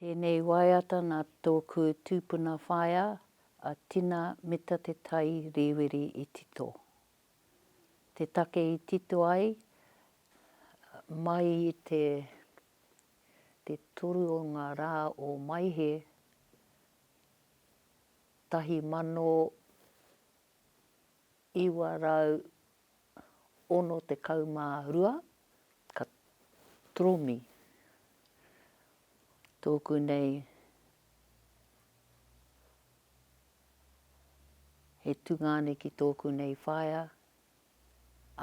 Tēnei waiata nā tōku tūpuna whaea a Tina Mita Te Tai Rīwiri i tito. Te take i tito ai, mai i te te toru o ngā rā o Maehe 1800, 962 ka toromi tōku nei he tungāne ki tōku nei whaea,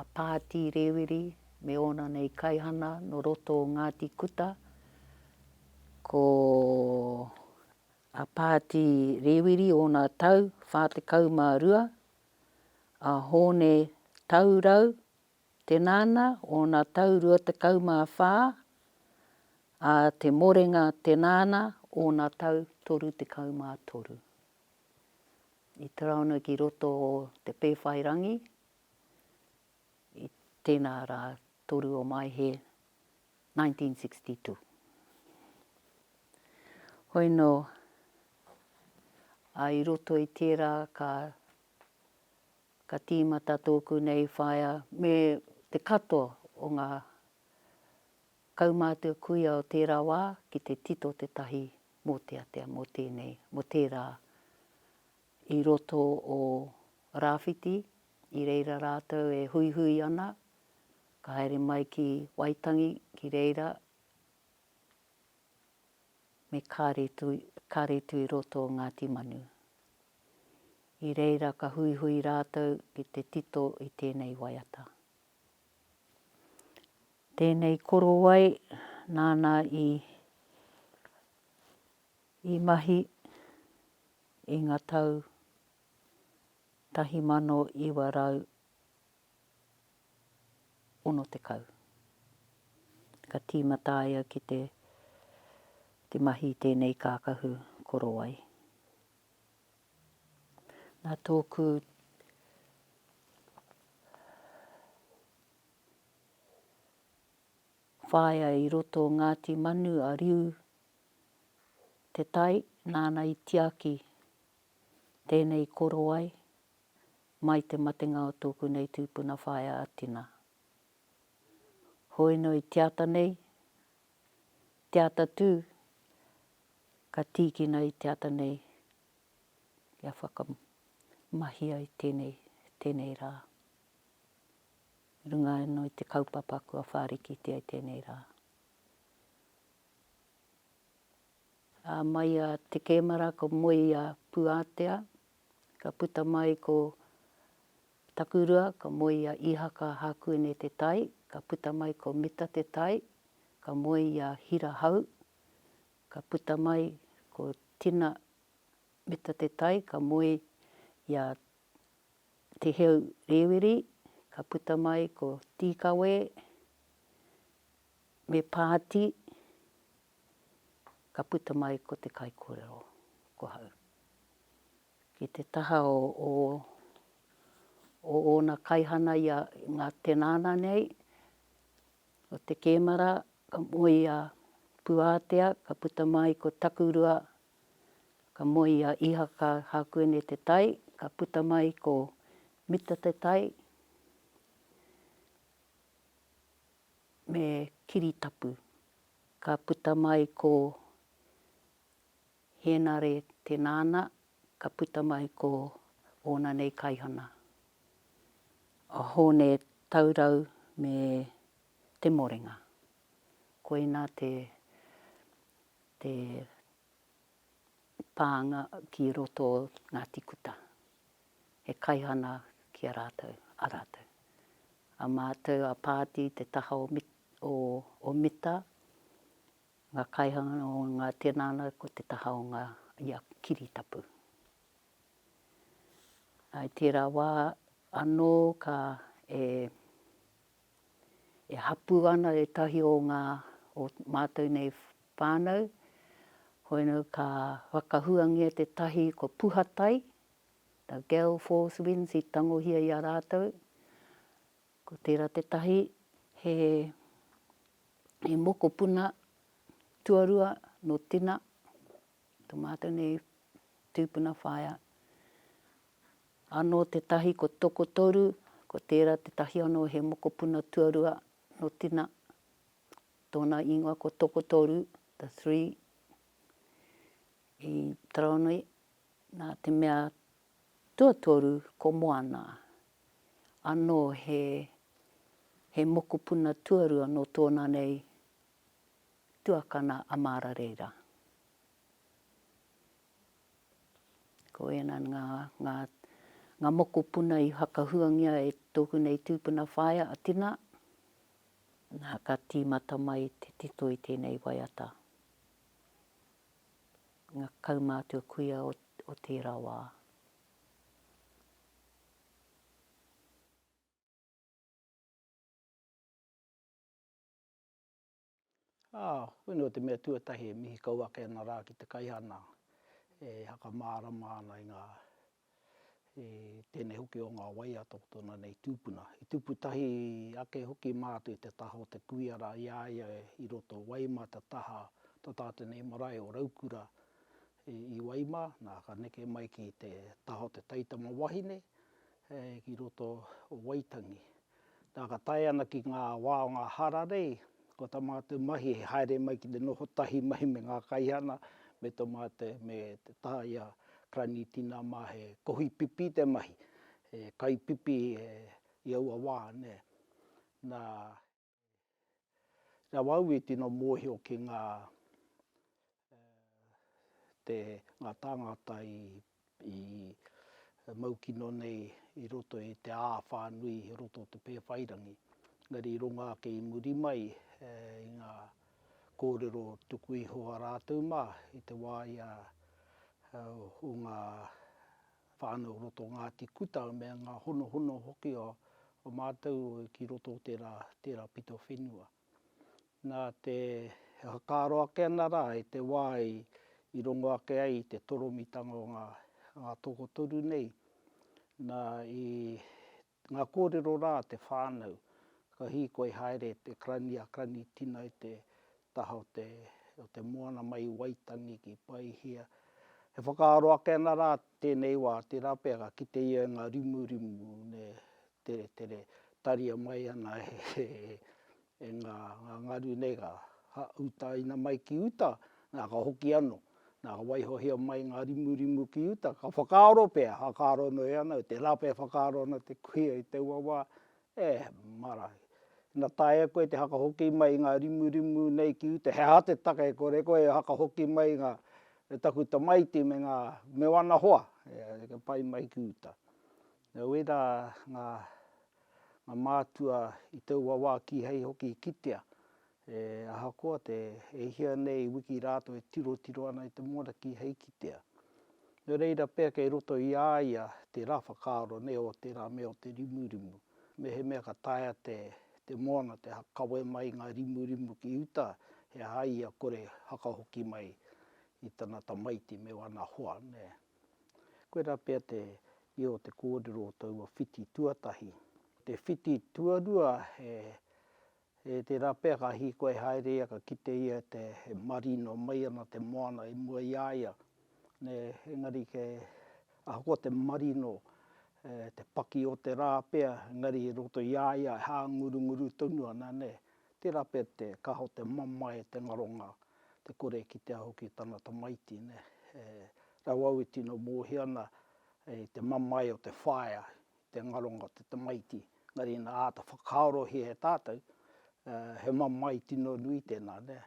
a Pāti Rēwiri me ōna nei kaihana nō roto o Ngāti Kuta, ko. a Pāti Rēwiri ōna tau 42, a Hōne Taurau Te Nana ōna tau 24, a Te Morenga Te Nana ōna tau 33. I taraona ki roto o Te Pēwhairangi, i tēnā rā 3 o Maehe 1962. Hoi nō, ā, i roto i tērā ka, ka tīmata tōku nei whaea me te katoa o ngā kaumātua kuia o tērā wā ki te tito te tahi mōteatea mō tēnei, mō tērā i roto o Rāwhiti I reira rātou e huihui ana, ka haere mai ki Waitangi, ki reira me Kāretu i roto o Ngāti Manu. I reira ka huihui rātou ki te tito i tēnei waiata. Tēnei korowai nāna i i mahi i ngā tau 1960. Ka tīmata ia ki te mahi i tēnei kākahu korowai. Nā tōku whaea i roto o Ngāti Manu a Riu Te Tai, nāna i tiaki Tēnei korowai, mai te matenga o tōku nei tūpuna whaea a Tina. Hoinoi te ata nei, te ata tū, ka tīkina i te ata nei kia whakamahia i tēnei, tēnei rā. Runga anō i te kaupapa kua whārikitia i tēnei rā. Ā, mai a te kemara ko Moia Puatea, ka puta mai ko Takurua, ka moe i a Ihaka Hakuene Te Tai, ka puta mai ko Mita Te Tai, ka moe i a Hira Hau, ka puta mai ko Tina Mita Te Tai, ka moe i a Te Heu Rewiri, ka puta mai ko Tīkawē me Pāti. ka puta mai ko te kaikorero, ko hau. Ki te taha o, o, o ona kaihana ia nga tenana nei, o te kemara, ka moe ia Puatea, ka puta mai ko Takurua, ka moe ia Ihaka Hakuene Te Tai, ka puta mai ko Mita Te Tai, me Kiritapu. Ka puta mai ko Henare te nana, ka puta mai ko ona nei kaihana, a Hone Taurau me Te Morenga. Koina te te pānga ki roto o Ngāti Kuta. He kaihana ki a rātou, a rātou. A mātou a Pāti te taha o Mita, o Ometa, nga kaihanga o nga tenana ko te taha o nga ia kiritapu. I tera wa ano ka e hapu ana etahi o nga o matou nei whanau, hoena ka whakahuangia tetahi ko Puhatai, the Gale Force Winds i tangohia i a ratou, Ko tērā tētahi, he mokopuna tuarua nō Tina, tō mātou nei tūpuna whaea. Anō tētahi ko Tokotoru, ko tērā tētahi anō he mokopuna tuarua nō Tina, tōna ingoa ko Tokotoru, the three, i Taronui, nā te mea tuatoru ko Moana. anō he he mokopuna tuarua nō tōna nei tuakana a Māra reira. Ko ēnā ngā, ngā, ngā mokopuna i whakahuangia e tōku nei tūpuna whaea a Tina, nā, ka tīmata mai te tito i tēnei waiata. Ngā kaumātua kuia o, o tērā wā. Ā, koinei o te mea tuatahi e mihi kau ake ana rā ki te kaihana e whakamārama ana i ngā, i tēnei hoki o ngā waea tokotona nei tūpuna. I tupu tahi ake hoki mātou i te taha o te kuia rā i a ia i roto wai mā te taha o tā te nei marae o Raukura I Waima, nā, ka neke mai ki te taha o te taitama wahine, ki roto o Waitangi. Nā, ka tae ana ki ngā wā o ngā hararei, ko tā mātou mahi he haere mai ki te noho tahi mai me ngā kaihana, me tō mātou, me te taha i a Karani Tina mā, he kohi pipi te mahi, he kai pipi i aua wā, nē. Nā. Nā wau i tino mōhio ki ngā te ngā tāngata i i mau kino nei i roto i te ā whānui i roto o te Pēwhairangi. Engari i runga ake i muri mai i ngā kōrero tuku iho a rātou mā i te wā ia o ngā whānau o roto o Ngāti Kuta me ngā honohono hoki o mātou ki roto o tērā, tērā pito whenua. Nā te, e whakaaro ake ana rā i te wā i, i rongo ake ai i te toromitanga o ngā, ngā tokotoru nei, nā i Ngā kōrero rā, te whānau, ka hīkoi haere te Karani a Karani Tina i te taha o te o te moana mai i Waitangi ki Paihia. E whakaaro ake ana rā tēnei wā, tērā pea ka kite ia i ngā rimurimu, nē, tere, tere, taria mai ana he, he, E ngā, ngā ngaru nei ka, ha, utaina mai ki uta, nā, ka hoki anō. Nā, ka waihohia mai ngā rimurimu ki uta, ka whakaaro pea, whakaaro noa ianō, i te rape whakaaro ana te kuia i taua wā, e, mara. Ina taea koe te hakahoki mai i ngā rimurimu nei ki uta, he aha te take e kore koe e hakahoki mai i ngā, e taku tamaiti me ngā, me wana hoa, e, e pai mai ki uta. Nō reira ngā mātua i taua wā kīhai hoki i kitea e ahakoa te e hia nei wiki rātou e tirotiro ana i te moana kīhai i kitea. Nō reira pea kei roto i a ia tērā whakaaro nei o tērā mea o te rimurimu. Mehemea ka taea te moana te kawe mai i ngā rimurimu ki uta he aha ia kore hakahoki mai i tana tamaiti me wana hoa. Koirā pea te ia o te kōrero o taua whiti tuatahi. Te whiti tuarua he he tērā pea ka hīkoi haere ia ka kite ia te he marino mai ana te moana i mua i a ia. Nē, engari ke ahakoa te marino e te paki o te rā pea engari i roto i a ia e hāngurunguru tonu ana nē. Tera pea te kaha te mamae te ngaronga te kore kitea hoki tana tamaiti ne he rau au e tino mohi ana i te mamae o te whaea i te ngaronga o te tamaiti engari ina ata whakaarohia e tatou he mamae tino nui tena ne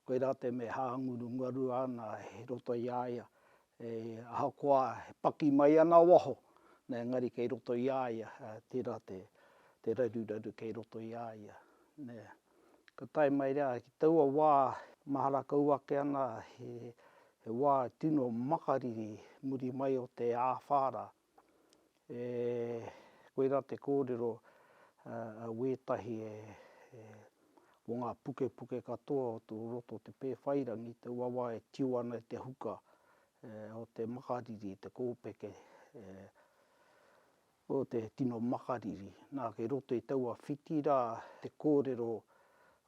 koira te me hanguru ngarua ana i roto i a ia E, ahakoa e paki mai ana waho, nē, engari kei roto i a ia, ā, tērā te, te raruraru kei roto i a ia, nē. Ka tae mai rā, ki taua wā, mahara kau ake ana he, he wā tino makariri muri mai o te āwhā rā. E koirā te kōrero a wētahi e mō ngā pukepuke katoa o tō roto o te Pēwhairangi, te wawa e tio ana i te huka o te makariri, te kōpeke o te tino makariri. Nā, kei roto i taua whiti rā te kōrero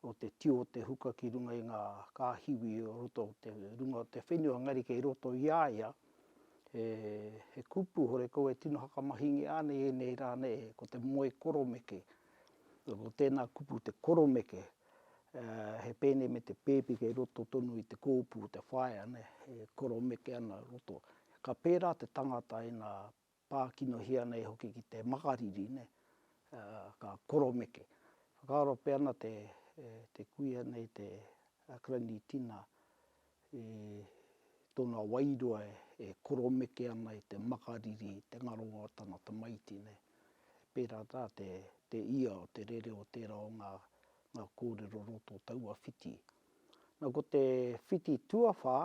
o te tio o te huka ki runga i ngā kāhiwi o roto o te runga o te whenua, engari kei roto i a ia he kupu horekau e tino hakamahingia ana i ēnei rā nei, ko te moe koromeke. Ko tēnā kupu te koromeke, he pēne me te pēpi kei roto tonu i te kōpū, te whaea, e koromeke ana i roto. Ka pērā te tangata ina Pākinohia nei hoki ki te makariri, nē, ka koromeke. Whakaaro pea ana te kuia nei, te Granny Tina, i tōna wairua e koromeke ana i te makariri, i te ngaronga o tana tamaiti, nē. Pērā tā te ia o te rereo tērā o ngā kōrero roto o taua whiti. Nā, ko te whiti tuawhā,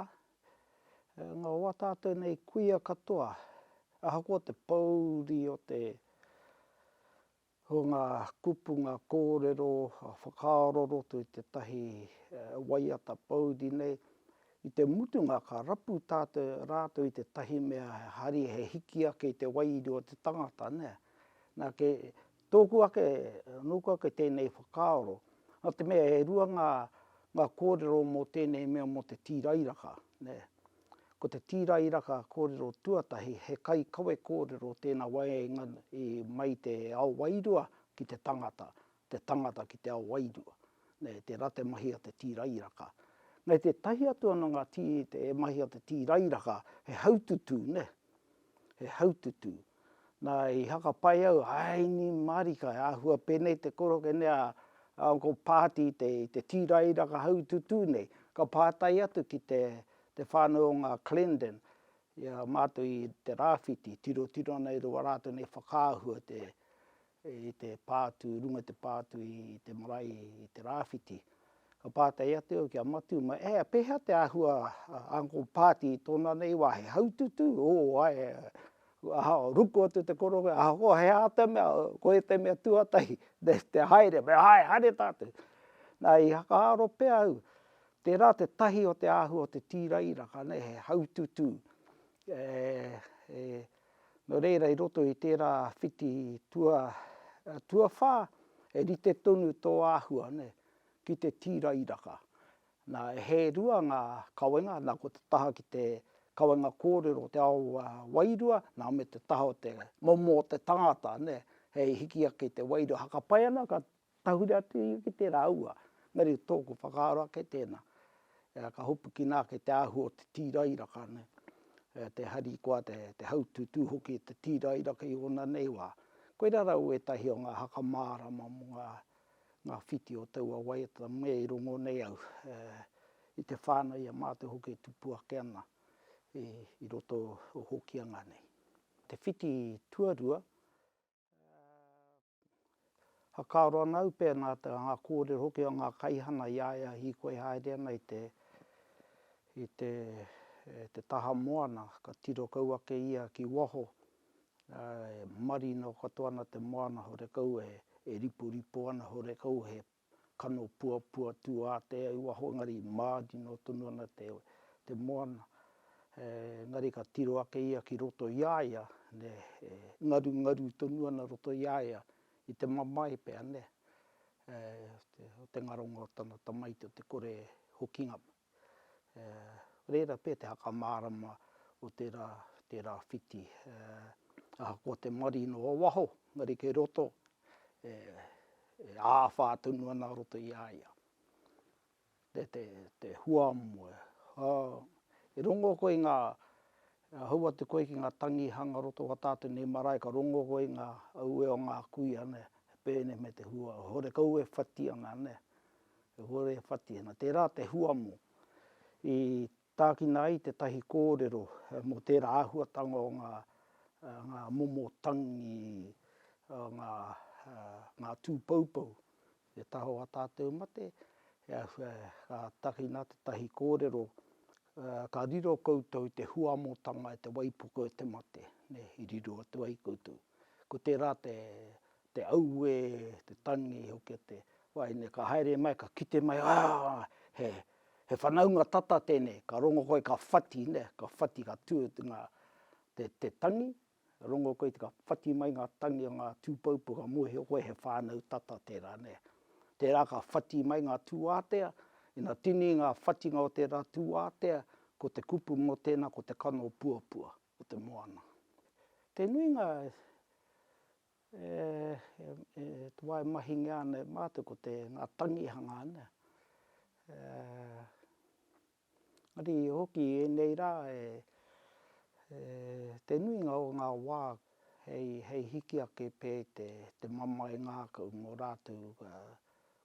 Nga o a tatou nei kuia katoa, ahakoa te pouri o te, o nga kupu, nga korero, nga whakaaro roto i tetahi waiata pouri nei, i te mutunga ka rapu tatou, ratou i tetahi mea he hari, he hiki ake i te wairua o te tangata, nea. Na, ke Tōku ake, nōku ake tēnei whakaaro, nā te mea e rua ngā, ngā kōrero mō tēnei mea mō te tīrairaka, nē. Ko te tīrairaka kōrero tuatahi, he kaikawe kōrero tēnā waenga i mai te ao wairua ki te tangata, te tangata ki te ao wairua, nē, tērā te mahi a te tīrairaka. Nē, tētahi atu anō ngā tī, te mahi a te tīrairaka, he haututu, nē, he haututu. Na, i hakapai au, aini marika, he ahua penei te koroke nei a Uncle Paati i te, i te tīrairaka haututū nei. Ka pātai atu ki te, te whānau o ngā Clendon, ia, mātou i te rāwhiti, tirotiro ana e rua rātou nei whakaahua te, i te pā atu, runga i te pā atu i te marae i te rāwhiti. Ka pātai atu au ki a Matiu, mai, ē, pēhea te āhua a Uncle Pāti i tōna nei wā, he haututū? Ō, āe, ahakoa, ruku atu te koroua, ahakoa he āta mea, koia te mea tuatahi, te haere, me āe, haere tātou. Nā, i whakaaro pea au, tērā te tahi o te āhua o te tīrairaka, nei, he haututū. Nō reira, i roto i tērā whiti tuawhā, e rite tonu tō āhua ki te tīrairaka. Nā, e hē rua ngā kawenga, nā, ko te taha ki te kawenga kōrero o te ao wairua, nā, me te taha o te momo o te tangata hei hiki ake i te wairua. Hakapai ana ka Tahuri atu ia ki tērā aua, engari tōku whakaaro ake tēnā, ka hopukina ake te āhua o te tīrairaka, te harikoa, te haututū hoki o te tīrairaka i ōna nei wā. Koirā rau ētahi o ngā haka mārama mō ngā whiti o taua waiata me i rongo nei au i te whānau i a mātou hoki e tupu ake ana i roto o Hokianga nei. Te whiti tuarua, Whakaaro ana au pēnā te ngā kōrero hoki o ngā kaihana i a ia hīkoi haere ana i te, i te, te taha moana, ka tiro kau ake ia ki waho, e marino katoa ana te moana horekau e riporipo ana, horekau he Kano puapua tūātea i waho engari i mārino tonu ana te moana. Engari ka tiro ake ia ki roto i a ia, e ngarungaru tonu ana roto i a ia i te mamae pea, o te ngaronga o tana tamaiti, o te kore hokinga. Reira pea te whakamārama o tērā, tērā whiti. Ahakoa te marie nō waho, engari kei roto, e āwhā tonu ana roto i a ia. Te, te, te hua moe. E rongo koe i ngā, hou atu koe ki ngā tangihanga roto wā tātou nei marae, ka rongo koe i ngā aue o ngā kuia, nē, pēnei me te hua. Horekau e whati ana, nē. e hore e whati ana. Tērā te huamo i tākina ai tētahi kōrero mō tērā āhuatanga o ngā ngā momo tangi o ngā ngā tūpoupou e taho a tātou mate, ka takina tētahi kōrero ka riro koutou te huamotanga e te waipuke o te mate, i riro atu ai koutou. Ko tērā te te auē, te tangi hoki a te wahine, ka haere mai, ka kite mai, aah, he, he whanaunga tata tēnei, ka rongo koe ka whati nē, ka whati ka tū ngā, te, te tangi, rongo koe ka whati mai ngā tangi o ngā tūpoupou ka mōhio koe he whānau tata tērā nē. Tērā ka whati mai ngā tūātea, ina tini ngā whatinga o tērā tūātea, ko te kupu mō tēnā ko te kano puapua o te moana. Te nuinga e. e wae mahingia ana e mātou ko te, ngā tangihanga ana. Engari hoki i ēnei rā e, te nuinga o ngā wā hei, hei hiki ake pē te, te mamae ngākau mō rātou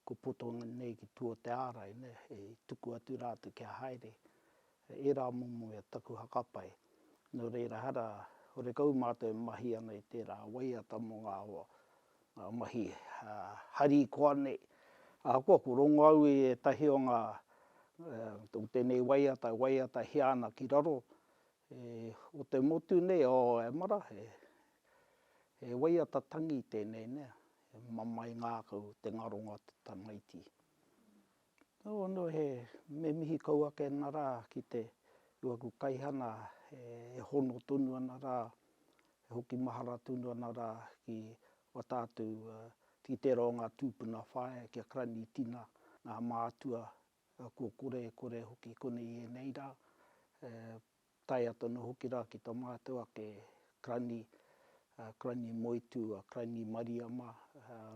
kua poto nei ki tua o te ārai nei, hei tuku atu rātou kia haere. He ērā momo ia taku hakapai, nō reira ehara horekau mātou e mahi ana i tērā waiata mō ngā mahi harikoa nei. Ahakoa ko Rongoaue ētahi o ngā, o tēnei waiata e waiatahia ana ki raro, o te motu nei, o Emara, he waiata tangi tēnei nei, he mamae ngākau te ngaronga o te tamaiti. Nō ono he me mihi kau ake ana rā ki te ki waku kaihana e hono tonu ana rā, e hoki mahara tonu ana rā ki a tātou ki tērā o ngā tūpuna whāea ki a Karani Tina, ngā mātua kua korekore hoki konei i ēnei rā. tae atu ana hoki rā ki tā mātou ake Karani, Karani Moetū, Karani Mariama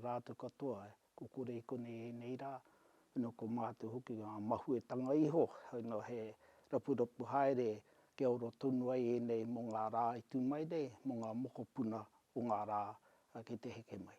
rātou katoa, ko Korei konei ēnei rā, nō ko mātou hoki ngā mahuetanga iho, nō he rapurapu haere kia ora tonu ai ēnei mō ngā rā i tū mai nei, mō ngā mokopuna o ngā rā ki te heke mai.